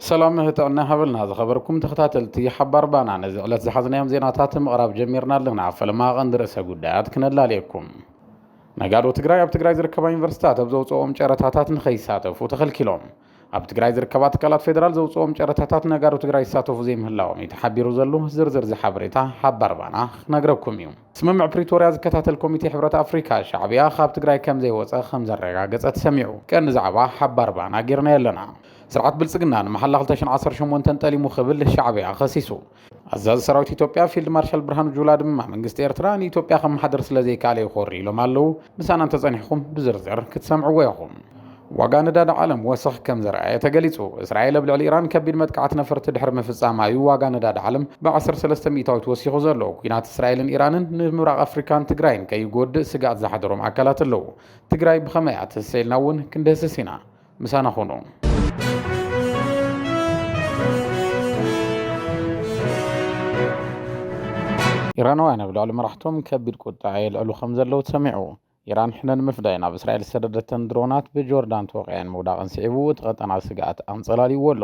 ሰላም ጥዕና ሃበልና ዝኸበርኩም ተኸታተልቲ ሓባር ባና ነዚ ዕለት ዝሓዝናዮም ዜናታት ምቕራብ ጀሚርና ኣለና ፈለማ ቀንዲ ርእሰ ጉዳያት ክነላልየኩም ነጋዶ ትግራይ ኣብ ትግራይ ዝርከባ ዩኒቨርሲታት ኣብ ዘውፅኦም ጨረታታት ንኸይሳተፉ ተኸልኪሎም ኣብ ትግራይ ዝርከባ ትካላት ፌዴራል ዘውፅኦም ጨረታታት ነጋዶ ትግራይ ይሳተፉ ዘይምህላዎም እዩ ተሓቢሩ ዘሉ ዝርዝር ዝሓበሬታ ሃባርባና ክነግረኩም እዩ ስምምዕ ፕሪቶርያ ዝከታተል ኮሚቴ ሕብረት ኣፍሪካ ሻዕብያ ካብ ትግራይ ከም ዘይወፀ ከም ዘረጋገፀ ተሰሚዑ ቀንዲ ዛዕባ ሃባርባና ጌርናዮ ኣለና ስርዓት ብልፅግና ንመሓላ 218 ጠሊሙ ክብል ሻዕብያ ከሲሱ ኣዛዚ ሰራዊት ኢትዮጵያ ፊልድ ማርሻል ብርሃኑ ጁላ ድማ መንግስቲ ኤርትራ ንኢትዮጵያ ከመሓድር ስለ ዘይከኣለ እዩ ኮሪ ኢሎም ኣለዉ። ምሳና እንተጸኒሕኩም ብዝርዝር ክትሰምዕዎ ኢኹም። ዋጋ ነዳዲ ዓለም ወሰኽ ከም ዘርኣየ ተገሊጹ። እስራኤል ኣብ ልዕሊ ኢራን ከቢድ መጥቃዕቲ ነፈርቲ ድሕሪ ምፍጻማ እዩ ዋጋ ነዳዲ ዓለም ብዓሰርተ ሰለስተ ሚእታዊት ወሲኹ ዘሎ። ኲናት እስራኤልን ኢራንን ንምብራቕ ኣፍሪካን ትግራይን ከይጎድእ ስግኣት ዝሓደሮም ኣካላት ኣለዉ። ትግራይ ብኸመይ እያ ትህሰ ኢልና እውን ክንድህስስ ኢና። ምሳና ኹኑ። ኢራናውያን ኣብ ልዕሊ መራሕቶም ከቢድ ቁጠዐ የልዕሉ ከምዘለዉ ተሰሚዑ። ኢራን ሕነ ንምፍዳይ ናብ እስራኤል ዝሰደደተን ድሮናት ብጆርዳን ተወቒዐን ምውዳቐን ስዒቡ እቲ ቀጠና ስግኣት ኣንጸላልይዎ ኣሎ።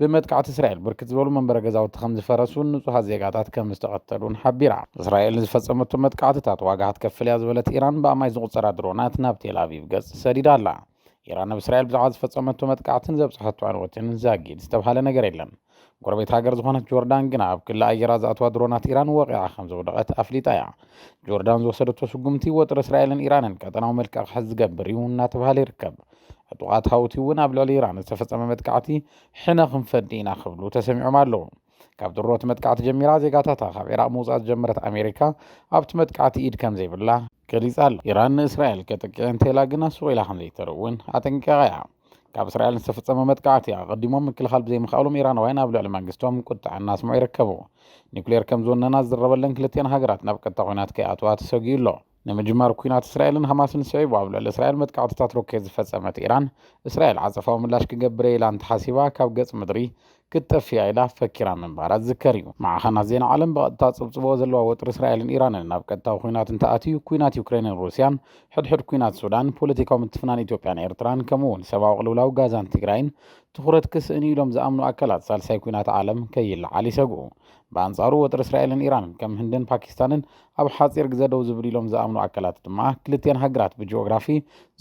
ብመጥቃዕቲ እስራኤል ብርክት ዝበሉ መንበረ ገዛውቲ ከም ዝፈረሱን ንጹሃት ዜጋታት ከም ዝተቐተሉን ሓቢራ። እስራኤል ንዝፈጸመቶ መጥቃዕትታት ዋጋ ክትከፍል እያ ዝበለት ኢራን ብኣማኢት ዝቑጸራ ድሮናት ናብ ቴልኣቪቭ ገጽ ሰዲዳ ኣላ። ኢራን ኣብ እስራኤል ብዛዕባ ዝፈጸመቶ መጥቃዕትን ዘብጽሐቶ ዕንወትን ዛጊድ ዝተብሃለ ነገር የለን። ጎረቤት ሃገር ዝኾነት ጆርዳን ግና ኣብ ክሊ ኣየራ ዝኣተዋ ድሮናት ኢራን ወቒዓ ከም ዘውደቐት ኣፍሊጣ እያ። ጆርዳን ዝወሰደቶ ስጉምቲ ወጥሪ እስራኤልን ኢራንን ቀጠናዊ መልክዕ ክሕዝ ዝገብር እዩ እናተብሃለ ይርከብ። ዕጡቓት ሃውቲ እውን ኣብ ልዕሊ ኢራን ዝተፈፀመ መጥቃዕቲ ሕነ ክንፈዲ ኢና ክብሉ ተሰሚዖም ኣለዉ። ካብ ድሮ እቲ መጥቃዕቲ ጀሚራ ዜጋታታ ካብ ዒራቕ ምውፃእ ዝጀመረት ኣሜሪካ ኣብቲ መጥቃዕቲ ኢድ ከምዘይብላ ገሊጻ ኣላ። ኢራን ንእስራኤል ከጥቅዕ እንተኢላ ግና ሱቕ ኢላ ከምዘይተርፍ እውን ኣጠንቂቓ እያ። ካብ እስራኤል ዝተፈፀመ መጥቃዕቲ ኣቐዲሞም ምክልኻል ብዘይምኽኣሎም ኢራናውያን ኣብ ልዕሊ መንግስቶም ቁጥዐ እናስምዑ ይርከቡ። ኒኩሌር ከምዝወነና ዝዝረበለን ክልቲኣን ሃገራት ናብ ቀጥታ ኲናት ከይኣትዋ ተሰጊኡ ኣሎ። ንምጅማር ኲናት እስራኤልን ሃማስን ስዒቡ ኣብ ልዕሊ እስራኤል መጥቃዕትታት ሮኬት ዝፈጸመት ኢራን፣ እስራኤል ዓጸፋዊ ምላሽ ክገብር እየ ኢላ እንተሓሲባ ካብ ገጽ ምድሪ ክትጠፍእ እያ ኢላ ፈኪራ ምንባራ ዝዝከር እዩ። ማዕኸናት ዜና ዓለም ብቐጥታ ዝጽብጽብዎ ዘለዋ ወጥሪ እስራኤልን ኢራንን ናብ ቀጥታዊ ኲናት እንተኣትዩ፣ ኲናት ዩክሬንን ሩስያን፣ ሕድሕድ ኲናት ሱዳን፣ ፖለቲካዊ ምትፍናን ኢትዮጵያን ኤርትራን ከምኡ'ውን ሰብኣዊ ቅልውላው ጋዛን ትግራይን ትኹረት ክስእን እዩ ኢሎም ዝኣምኑ ኣካላት ሳልሳይ ኲናት ዓለም ከይለዓል ይሰግኡ። ብኣንጻሩ ወጥሪ እስራኤልን ኢራንን ከም ህንድን ፓኪስታንን ኣብ ሓፂር ግዘ ደው ዝብል ኢሎም ዝኣምኑ ኣካላት ድማ ክልቲኤን ሃገራት ብጂኦግራፊ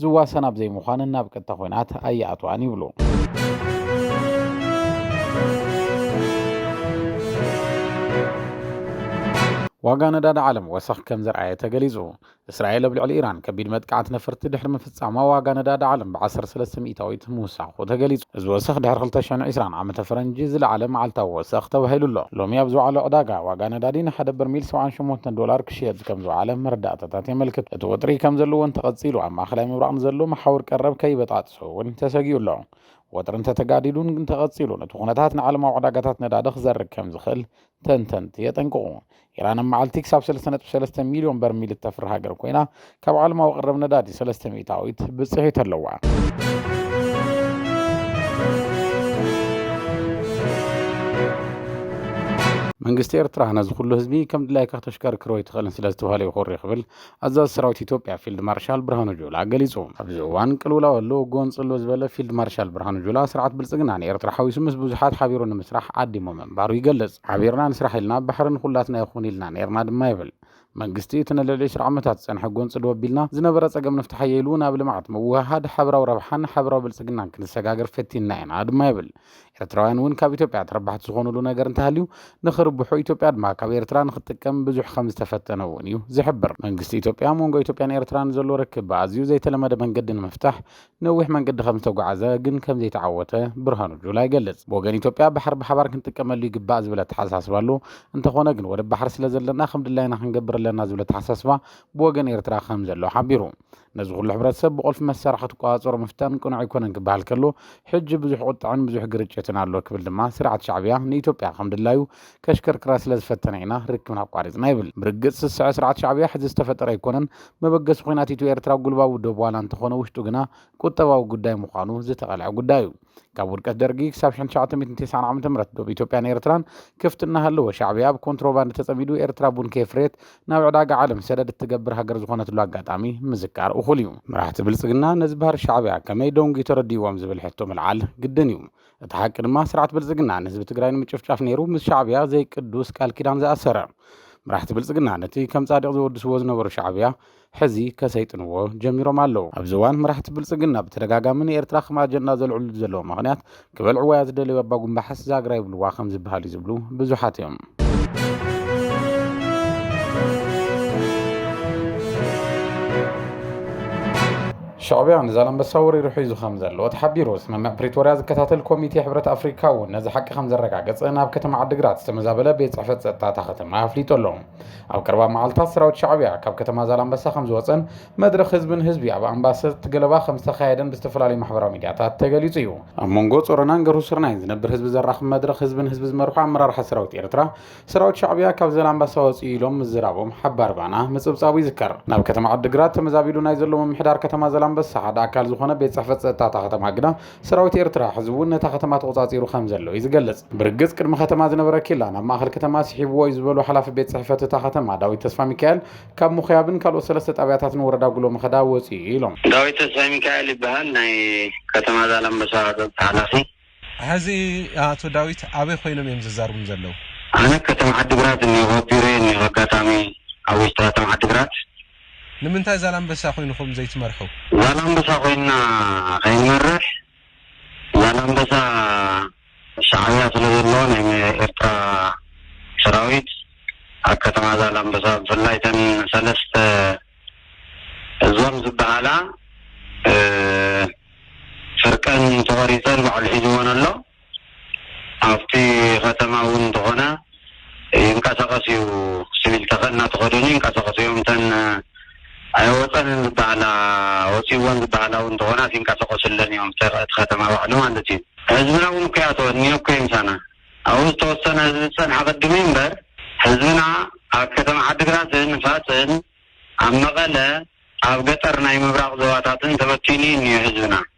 ዝዋሰና ኣብ ዘይምዃንን ናብ ቀጥታ ኮይናት ኣይኣትዋን ይብሉ። ዋጋ ነዳዲ ዓለም ወሰኽ ከም ዘርኣየ ተገሊጹ። እስራኤል ኣብ ልዕሊ ኢራን ከቢድ መጥቃዕቲ ነፈርቲ ድሕሪ ጻማ ዋጋ ነዳዲ ዓለም ብዓሰርተ ሰለስተ ሚእታዊት ምውሳኹ ተገሊጹ። እዚ ወሰኽ ድሕሪ ክልተ ሽሕን ዕስራን ዓመተ ፈረንጂ ዝለዓለ መዓልታዊ ወሰኽ ተባሂሉ ኣሎ። ሎሚ ኣብ ዝወዓለ ዕዳጋ፣ ዋጋ ነዳዲ ንሓደ በርሚል ሰብዓን ሸሞንተን ዶላር ክሽየጥ ከም ዝወዓለ መረዳእታታት የመልክቱ። እቲ ወጥሪ ከምዘለዎ እንተቐጺሉ ኣብ ማእከላይ ምብራቕ ንዘሎ መሓውር ቀረብ ከይበጣጥሶ እውን ተሰጊኡ ኣሎ። ወጥሪ እንተተጋዲዱን እንተቐጺሉን እቲ ኩነታት ንዓለማዊ ዕዳጋታት ነዳዲ ክዘርግ ከም ዝኽእል ተንተንቲ የጠንቅቑ። ኢራን ኣብ መዓልቲ ክሳብ 3.3 ሚልዮን በርሚል እተፍሪ ሃገር ኮይና ካብ ዓለማዊ ቅረብ ነዳዲ 3 ሚእታዊት ብፅሒት ኣለዋ። መንግስቲ ኤርትራ ነዚ ኩሉ ህዝቢ ከም ድላይካ ክተሽከርክሮ ኣይትኽእልን ስለ ዝተባህለ ይኹሪ ክብል ኣዛዚ ሰራዊት ኢትዮጵያ ፊልድ ማርሻል ብርሃኑ ጁላ ገሊጹ። ኣብዚ እዋን ቅልውላው ኣሎ ጎንፂ ኣሎ ዝበለ ፊልድ ማርሻል ብርሃኑ ጁላ ስርዓት ብልጽግና ንኤርትራ ሓዊሱ ምስ ብዙሓት ሓቢሩ ንምስራሕ ዓዲሙ ምንባሩ ይገልጽ። ሓቢርና ንስራሕ ኢልና ባሕሪ ንኹላትና ይኹን ኢልና ነይርና ድማ ይብል። መንግስቲ እቲ ንልዕሊ ዕስራ ዓመታት ዝጸንሐ ጎንጺ ዶብ ኣቢልና ዝነበረ ጸገም ንፍታሓዮ ኢሉ ናብ ልምዓት፣ ምውህሃድ፣ ሓበራዊ ረብሓን ሓበራዊ ብልጽግናን ክንሰጋገር ፈቲንና ኢና ድማ ይብል። ኤርትራውያን እውን ካብ ኢትዮጵያ ተረባሕቲ ዝኾኑሉ ነገር እንተሃልዩ ንኽርብሑ ኢትዮጵያ ድማ ካብ ኤርትራ ንኽትጥቀም ብዙሕ ከምዝተፈተነ እውን እዩ ዝሕብር። መንግስቲ ኢትዮጵያ ኣብ መንጎ ኢትዮጵያን ኤርትራን ዘሎ ርክብ ብኣዝዩ ዘይተለመደ መንገዲ ንምፍታሕ ነዊሕ መንገዲ ከም ዝተጓዓዘ ግን ከም ዘይተዓወተ ብርሃኑ ጁላ ይገልጽ። ብወገን ኢትዮጵያ ባሕሪ ብሓባር ክንጥቀመሉ ይግባእ ዝብል ኣተሓሳስባ ኣሎ። እንተኾነ ግን ወደብ ባሕሪ ስለ ዘለና ከም ድላይና ክንገብር ኣለና ዝብል ኣተሓሳስባ ብወገን ኤርትራ ከም ዘሎ ሓቢሩ። ነዚ ኩሉ ሕብረተሰብ ብቁልፊ መሳርሒ ክትቆጻጸሮ ምፍታን ቅኑዕ ኣይኮነን ክበሃል ከሎ ሕጂ ብዙሕ ቁጥዐን ብዙሕ ግርጭትን ኣሎ ክብል ድማ ስርዓት ሻዕብያ ንኢትዮጵያ ከም ድላዩ ከሽከርክራ ስለ ዝፈተነ ኢና ርክብና ኣቋሪጽና ይብል። ብርግጽ ስስዐ ስርዓት ሻዕብያ ሕዚ ዝተፈጠረ ኣይኮነን። መበገሲ ኹናት ኢትዮ ኤርትራ ጉልባቡ ዶብ ዋላ እንተኾነ ውሽጡ ግና ቁጠባዊ ጉዳይ ምዃኑ ዝተቐልዐ ጉዳይ እዩ። ካብ ውድቀት ደርጊ ክሳብ ሽሕን ትሽዓተ ሚእትን ቴስዓን ዓመተ ምሕረት ዶብ ኢትዮጵያን ኤርትራን ክፍቲ እናሃለወ ሻዕብያ ኣብ ኮንትሮባንድ ተጸሚዱ ኤርትራ ቡን ከየፍረየት ናብ ዕዳጋ ዓለም ሰደድ እትገብር ሃገር ዝኾነትሉ ኣጋጣሚ ምዝካር እኹል እዩ። መራሕቲ ብልጽግና ነዚ ባህሪ ሻዕብያ ከመይ ዶንጊ ተረዲእዎም ዝብል ሕቶ ምልዓል ግድን እዩ። እቲ ሓቂ ድማ ስርዓት ብልፅግና ንህዝቢ ትግራይ ንምጭፍጫፍ ነይሩ ምስ ሻዕብያ ዘይቅዱስ ቃል ኪዳን ዝኣሰረ። መራሕቲ ብልፅግና ነቲ ከም ፃድቕ ዘወድስዎ ዝነበሩ ሻዕብያ ሕዚ ከሰይጥንዎ ጀሚሮም ኣለዉ። ኣብዚ እዋን መራሕቲ ብልፅግና ብተደጋጋሚ ንኤርትራ ከም ኣጀንዳ ዘልዕልሉ ዘለዉ ምኽንያት ክበልዕዋያ ዝደለዩ ኣባጉምባሕስ ዛግራ ይብልዋ ከም ዝበሃል እዩ ዝብሉ ብዙሓት እዮም። ሻዕቢያ ንዛላምበሳ ወሪሩ ሒዙ ከምዘሎ ተሓቢሩ። ስምምዕ ፕሪቶርያ ዝከታተል ኮሚቴ ሕብረት ኣፍሪካ እውን ነዚ ሓቂ ከምዘረጋገፀ ናብ ከተማ ዓዲግራት ዝተመዛበለ ቤት ፅሕፈት ፀጥታ እታ ከተማ ኣፍሊጡ ኣሎ። ኣብ ቀረባ መዓልታት ሰራዊት ሻዕቢያ ካብ ከተማ ዛላምበሳ ከምዝወፀን መድረኽ ህዝቢ ንህዝቢ ኣብ ኣምባሰት ገለባ ከም ዝተኻየደን ብዝተፈላለዩ ማሕበራዊ ሚድያታት ተገሊፁ እዩ። ኣብ መንጎ ፆረናን ገርሁ ስርናይን ዝነብር ህዝቢ ዘራኽብ መድረኽ ህዝቢ ንህዝቢ ዝመርሑ ኣመራርሓ ሰራዊት ኤርትራ ሰራዊት ሻዕብያ ካብ ዘላምባሳ ወፅዩ ኢሎም ምዝራቦም ሓባር ባና ምፅብፃቡ ይዝከር። ናብ ከተማ ዓዲግራት ተመዛቢሉ ናይ ዘሎ ምምሕዳር ከተማ ዘላምበሳ ሓደ ኣካል ዝኾነ ቤት ፅሕፈት ፀጥታ እታ ከተማ ግና ሰራዊት ኤርትራ ሕዚ እውን ነታ ከተማ ተቖፃፂሩ ከም ዘሎ እዩ ዝገልፅ። ብርግፅ ቅድሚ ከተማ ዝነበረ ኬላ ናብ ማእኸል ከተማ ስሒብዎ እዩ ዝበሉ ሓላፊ ቤት ፅሕፈት እታ ከተማ ዳዊት ተስፋሚካኤል ካብ ምኹያብን ካልኦት ሰለስተ ጣብያታትን ወረዳ ጉሎ መኸዳ ወፂኡ እዩ ኢሎም። ዳዊት ተስፋሚካኤል ይበሃል ናይ ከተማ ዛላምበሳ ቀፀፅታ ሓላፊ። ሐዚ ኣቶ ዳዊት ኣበይ ኮይኖም እዮም ዘዛርቡኒ ዘለው? ኣነ ከተማ ዓዲግራት እኒሆ ኣብ ቢሮየ እኒሆ ኣጋጣሚ ኣብ ውሽጢ ከተማ ዓዲግራት። ንምንታይ ዛላምበሳ ኮይንኹም ዘይትመርሑ? ዛላምበሳ ኮይንና ከይንመርሕ ዛላምበሳ ሻዕብያ ስለ ዘሎ ናይ ኤርትራ ሰራዊት ኣብ ከተማ ዛላምበሳ ብፍላይ እተን ሰለስተ ዞን ዝብሃላ ፍርቀን ተቆሪጸን ባዕሉ ሒዝወን ኣሎ። ኣብቲ ከተማ እውን እንተኾነ ይንቀሳቀስ እዩ ስቪል ተኸ እናተኸደኑ ይንቀሳቀሱ እዮም እተን ኣይወፀንን ዝበሃላ ወፂእወን ዝበሃላ እውን እንተኾናስ ይንቀሳቀሱለን እዮም እቲ ከተማ ባዕሉ ማለት እዩ ህዝብና እውን እኮ ይኣትወን እኒኦ እኮ እዩ ምሳና ኣብኡ ዝተወሰነ ህዝቢ ዝፀንሐ ቅድም እዩ እምበር ህዝብና ኣብ ከተማ ዓዲግራትን ፋፅን ኣብ መቐለ ኣብ ገጠር ናይ ምብራቕ ዞባታትን ተበቲኑ እዩ እኒኦ ህዝብና።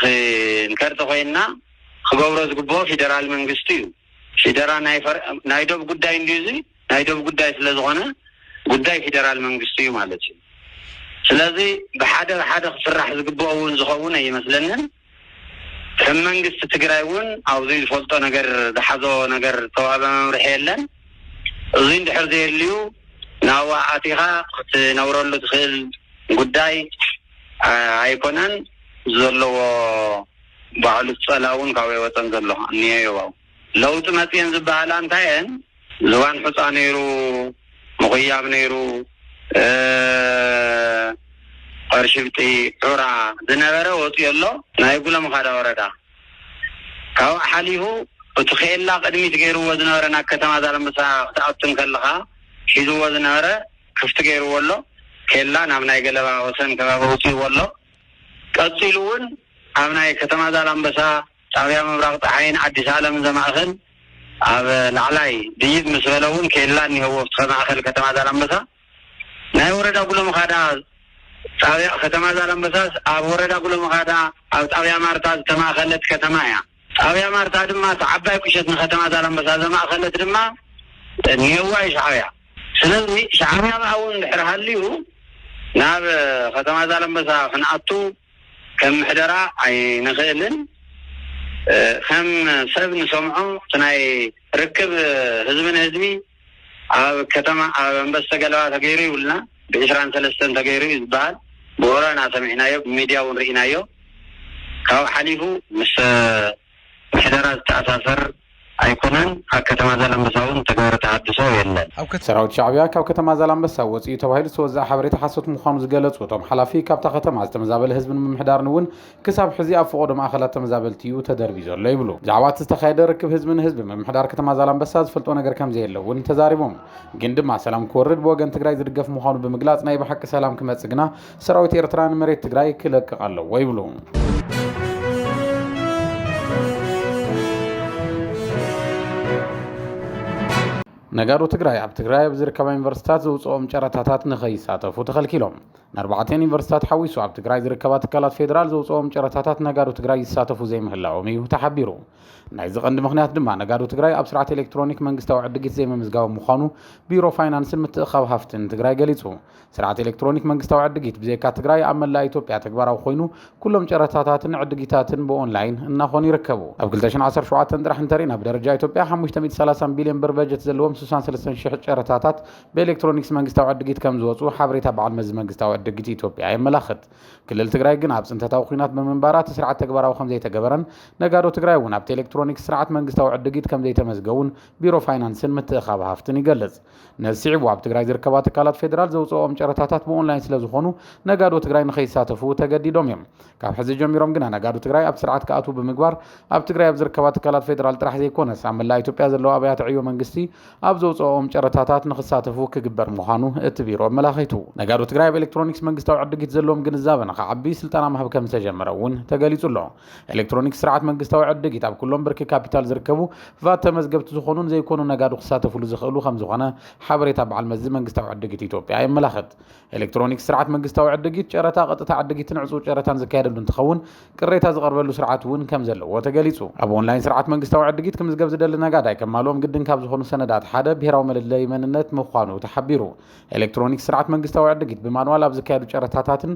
ኽንከር ተኾይንና ኽገብሮ ዝግብኦ ፊደራል መንግስቲ እዩ ፊደራ ናይ ዶብ ጉዳይ እንድዩ እዚ ናይ ዶብ ጉዳይ ስለ ዝኾነ ጉዳይ ፊደራል መንግስቲ እዩ ማለት እዩ ስለዚ ብሓደ ብሓደ ኽስራሕ ዝግብኦ እውን ዝኸውን ኣይመስለንን ከም መንግስቲ ትግራይ እውን ኣብዙይ ዝፈልጦ ነገር ዝሓዞ ነገር ዝተዋህበ መምርሒ የለን እዙይ እንድሕር ዘየልዩ ናብኣ ኣቲኻ ኽትነብረሉ ትኽእል ጉዳይ ኣይኮነን ዘለዎ ባዕሉ ዝጸላውን ካብይ ወጸን ዘሎ ኣንየዮባው ለውጢ መጽየን ዝበሃላ እንታየን ዝባን ሑጻ ነይሩ ምኹያብ ነይሩ ቐርሽብጢ ዑራ ዝነበረ ወጽዮ ኣሎ ናይ ጉሎም ኻዳ ወረዳ ካብኡ ሓሊፉ እቲ ኼላ ቕድሚት ገይርዎ ዝነበረ ናብ ከተማ ዛለምበሳ ክትኣቱ እንከለኻ ሒዝዎ ዝነበረ ክፍቲ ገይርዎ ኣሎ፣ ኬላ ናብ ናይ ገለባ ወሰን ከባቢ ኣውጺእዎ ኣሎ። ቀጺሉ እውን ኣብ ናይ ከተማ ዛላምበሳ፣ ጣብያ ምብራቕ ጸሓይን ኣዲስ ኣለምን ዘማእኽል ኣብ ላዕላይ ድይብ ምስ በለ እውን ኬላ እኒሀዎ ኣብቲ ማእኸል ከተማ ዛላምበሳ ናይ ወረዳ ጉሎምኻዳ ጣብያ ከተማ ዛላምበሳስ ኣብ ወረዳ ጉሎምኻዳ ኣብ ጣብያ ማርታ ዝተማእኸለት ከተማ እያ። ጣብያ ማርታ ድማ እታ ዓባይ ቁሸት ንከተማ ዛላምበሳ ዘማእከለት ድማ ኔዋ እዩ ሻዕብያ ስለዚ ሻዕብያ ብ ኣውን እንድሕር ሃልዩ ናብ ከተማ ዛላምበሳ ክንኣቱ ከም ምሕደራ ኣይንክእልን ከም ሰብ ንሰምዖ እቲ ናይ ርክብ ህዝቢ ንህዝቢ ኣብ ከተማ ኣብ ኣንበስተ ገለባ ተገይሩ ይብሉና ብ ዕስራን ሰለስተን ተገይሩ እዩ ዝባሃል ብወረ እና ሰሚዕናዮ ብ ሚድያ እውን ሪኢናዮ ካብኡ ሓሊፉ ምስ ምሕደራ ዝተኣሳሰር ኣይኮነን ኣብ ከተማ ዛላምበሳ እውን ዝተገበረ ተሃድሶ የለን። ሰራዊት ሻዕቢያ ካብ ከተማ ዛላምበሳ ወፂኡ ተባሂሉ ዝተወዘኣ ሓበሬታ ሓሶት ምዃኑ ዝገለፁ እቶም ሓላፊ ካብታ ከተማ ዝተመዛበለ ህዝብን ምምሕዳርን እውን ክሳብ ሕዚ ኣብ ፍቖዶ ማእኸላት ተመዛበልቲ ዩ ተደርብዩ ዘሎ ይብሉ። ብዛዕባ እቲ ዝተኻየደ ርክብ ህዝቢ ንህዝቢ ምምሕዳር ከተማ ዛላምበሳ ዝፈልጦ ነገር ከምዘየለ ውን ተዛሪቦም። ግን ድማ ሰላም ክወርድ ብወገን ትግራይ ዝድገፍ ምዃኑ ብምግላፅ ናይ ብሓቂ ሰላም ክመፅእ ግና ሰራዊት ኤርትራ ንመሬት ትግራይ ክለቅቕ ኣለዎ ይብሉ። ነጋዶ ትግራይ ኣብ ትግራይ ኣብ ዝርከባ ዩኒቨርስትታት ዘውፅኦም ጨረታታት ንከይሳተፉ ተኸልኪሎም። ንኣርባዕተ ዩኒቨርሲታት ሓዊሱ ኣብ ትግራይ ዝርከባ ትካላት ፌዴራል ዘውፅኦም ጨረታታት ነጋዶ ትግራይ ይሳተፉ ዘይምህላዎም እዩ ተሓቢሩ። ናይዚ ቀንዲ ምኽንያት ድማ ነጋዶ ትግራይ ኣብ ስርዓት ኤሌክትሮኒክ መንግስታዊ ዕድጊት ዘይምምዝጋቦም ምዃኑ ቢሮ ፋይናንስን ምትእኽኻብ ሃፍትን ትግራይ ገሊፁ። ስርዓት ኤሌክትሮኒክ መንግስታዊ ዕድጊት ብዘይካ ትግራይ ኣብ መላእ ኢትዮጵያ ተግባራዊ ኮይኑ ኩሎም ጨረታታትን ዕድጊታትን ብኦንላይን እናኾኑ ይርከቡ። ኣብ ክልተ ሽሕን ዓሰርተ ሸውዓተን ጥራሕ እንተሪእና ብደረጃ ኢትዮጵያ ሓሙሽተ ሚእቲ ሰላሳን ቢልዮን ብር በጀት ዘለዎም ስሳን ሰለስተን ሽሕ ጨረታታት ብኤሌክትሮኒክስ መንግስታዊ ዕድጊት ከምዝወፁ ሓበሬታ በዓል መዚ መንግስታዊ ዕድጊት ኢትዮጵያ የመላኽት። ክልል ትግራይ ግን ኣብ ፅንተታዊ ኹናት ብምንባራ እቲ ስርዓት ተግባራዊ ከምዘይተገበረን ነጋዶ ትግራይ እውን ኣብቲ ኤሌክትሮኒክስ ስርዓት መንግስታዊ ዕድጊት ከምዘይተመዝገቡን ቢሮ ፋይናንስን ምትእኻብ ሃፍትን ይገልፅ። ነዚ ስዒቡ ኣብ ትግራይ ዝርከባ ትካላት ፌዴራል ዘውፅእኦም ጨረታታት ብኦንላይን ስለዝኾኑ ነጋዶ ትግራይ ንከይሳተፉ ተገዲዶም እዮም። ካብ ሕዚ ጀሚሮም ግና ነጋዶ ትግራይ ኣብቲ ስርዓት ክኣትዉ ብምግባር ኣብ ትግራይ ኣብ ዝርከባ ትካላት ፌደራል ጥራሕ ዘይኮነስ ኣብ መላእ ኢትዮጵያ ዘለዋ ኣብያተ ዕዮ መንግስቲ ኣብ ዘውፅኦኦም ጨረታታት ንክሳተፉ ክግበር ምዃኑ እቲ ቢሮ ኣመላኺቱ። ነጋዶ ትግራይ ኣብ ኤሌክትሮኒክስ መንግስታዊ ዕድጊት ዘለዎም ግንዛበ ንክዓቢ ስልጠና ምሃብ ከምዝተጀመረ እውን ተገሊፁ ኣሎ። ኤሌክትሮኒክስ ስርዓት መንግስታዊ ዕድጊት ኣብ ኩሎም ብርኪ ካፒታል ዝርከቡ ቫት ተመዝገብቲ ዝኾኑን ዘይኮኑን ነጋዶ ክሳተፍሉ ዝኽእሉ ከምዝኾነ ሓበሬታ በዓል መዚ መንግስታዊ ዕድጊት ኢትዮጵያ የመላኽት። ኤሌክትሮኒክስ ስርዓት መንግስታዊ ዕድጊት፣ ጨረታ፣ ቀጥታ ዕድጊትን ዕፁው ጨረታን ዝካየደሉ እንትኸውን ቅሬታ ዝቐርበሉ ስርዓት እውን ከምዘለዎ ተገሊፁ። ኣብ ኦንላይን ስርዓት መንግስታዊ ዕድጊት ክምዝገብ ዝደሊ ነጋዳይ ከማልኦም ግድን ካብ ዝኾኑ ሰነዳት ሓደ ብሄራዊ መለለዪ መንነት ምዃኑ ተሓቢሩ። ኤሌክትሮኒክስ ስርዓት መንግስታዊ ዕድጊት ብማንዋል ኣብ ዝካየዱ ጨረታታትን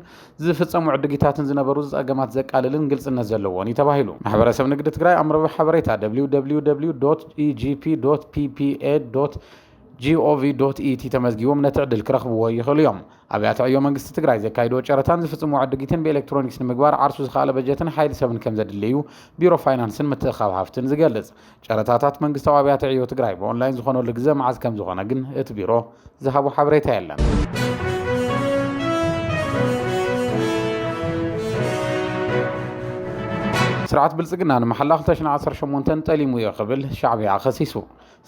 ዝፍፀሙ ዕድጊታትን ዝነበሩ ፀገማት ዘቃልልን ግልፅነት ዘለዎን እዩ ተባሂሉ። ማሕበረሰብ ንግዲ ትግራይ ኣብ መርበብ ሓበሬታ www.egp.ppa. ጂኦቪ ዶት ኢቲ ተመዝጊቦም ነቲ ዕድል ክረኽብዎ ይኽእሉ እዮም። ኣብያተ ዕዮ መንግስቲ ትግራይ ዘካይድዎ ጨረታን ዝፍፅምዎ ዕድጊትን ብኤሌክትሮኒክስ ንምግባር ዓርሱ ዝኸኣለ በጀትን ሓይሊ ሰብን ከምዘድሊ እዩ ቢሮ ፋይናንስን ምትእኽኻብ ሃፍትን ዝገልፅ። ጨረታታት መንግስታዊ ኣብያተ ዕዮ ትግራይ ብኦንላይን ዝኾነሉ ግዘ መዓዝ ከምዝኾነ ግን እቲ ቢሮ ዝሃቦ ሓበሬታ የለን። ስርዓት ብልፅግና ንመሓላ 2018 ጠሊሙ እዮ ክብል ሻዕቢያ ከሲሱ።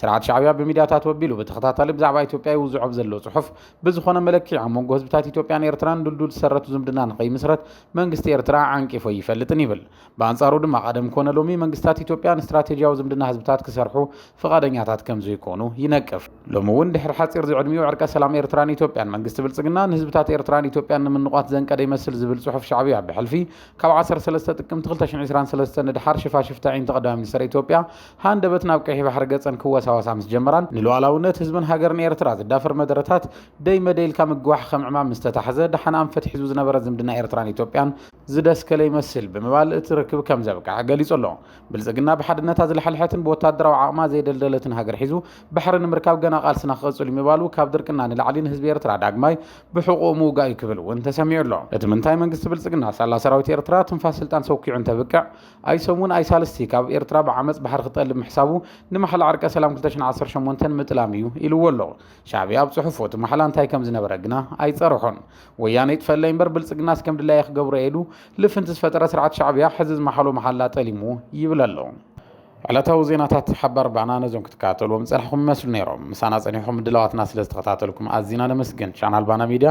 ስርዓት ሻዕብያ ብሚድያታቱ ኣቢሉ ብተኸታታሊ ብዛዕባ ኢትዮጵያ ይውዝዖ ብዘሎ ጽሑፍ ብዝኾነ መለክዒ ኣብ መንጎ ህዝብታት ኢትዮጵያን ኤርትራን ድልዱል ዝሰረቱ ዝምድና ንኸይምስረት መንግስቲ ኤርትራ ዓንቂፉ ኣይፈልጥን ይብል። ብኣንጻሩ ድማ ቀደም ኮነ ሎሚ መንግስታት ኢትዮጵያ ንስትራቴጂያዊ ዝምድና ህዝብታት ክሰርሑ ፍቓደኛታት ከምዘይኮኑ ይነቅፍ። ሎሚ እውን ድሕሪ ሓጺር ዝዕድሚኡ ዕርቀ ሰላም ኤርትራን ኢትዮጵያን መንግስቲ ብልጽግና ንህዝብታት ኤርትራን ኢትዮጵያን ንምንቛት ዘንቀደ ይመስል ዝብል ጽሑፍ ሻዕብያ ብሕልፊ ካብ ዓሰርተ ሰለስተ ጥቅምቲ ክልተ ሽሕን ዕስራን ሰለስተን ንደሓር ሽፋሽፍቲ ኣዒንቲ ቀዳማይ ሚኒስተር ኢትዮጵያ ሃንደበት ናብ ቀይሕ ባሕሪ ገጸን ክወሳወሳ ምስ ጀመራን ንሉዓላውነት ህዝብን ሃገርን ኤርትራ ዝዳፈር መደረታት ደይ መደይ ኢልካ ምግዋሕ ከም ዕማም ምስ ተታሕዘ ደሓን ኣንፈት ሒዙ ዝነበረ ዝምድና ኤርትራን ኢትዮጵያን ዝደስከለ ይመስል ብምባል እቲ ርክብ ከም ዘብቅዐ ገሊጹ ኣሎ። ብልጽግና ብሓድነታ ዝለሐልሐትን ብወተሃደራዊ ዓቕማ ዘይደልደለትን ሃገር ሒዙ ባሕሪ ንምርካብ ገና ቃልስና ክቕጽል'ዩ ምባሉ ካብ ድርቅና ንላዕሊ ንህዝቢ ኤርትራ ዳግማይ ብሕቑኡ ምውጋእ'ዩ ክብል እውን ተሰሚዑ ኣሎ። እቲ ምንታይ መንግስቲ ብልጽግና ሳላ ሰራዊት ኤርትራ ትንፋስ ስልጣን ሰኲዑ እንተብቅዕ ኣይሰሙን ኣይሳልስቲ ካብ ኤርትራ ብዓመጽ ባሕሪ ክጠልብ ምሕሳቡ ንማሕላ ዕርቀ ሰላም 218 ምጥላም እዩ ኢልዎ ኣሎ ሻዕብያ ኣብ ጽሑፉ እቲ ማሕላ እንታይ ከም ዝነበረ ግና ኣይጸርሖን ወያነ ይጥፈለይ እምበር ብልጽግናስ ከም ድላየ ክገብሮ ኢሉ ልፍንቲ ዝፈጠረ ስርዓት ሻዕብያ ሕዚ ዝመሓሎ መሓላ ጠሊሙ ይብል ኣሎ ዕለታዊ ዜናታት ሓባር ባና ነዞም ክትከታተልዎም ዝጸናሕኹም ይመስሉ ነይሮም ምሳና ጸኒሕኹም ምድላዋትና ስለ ዝተኸታተልኩም ኣዝና ነመስግን ቻናል ባና ሚድያ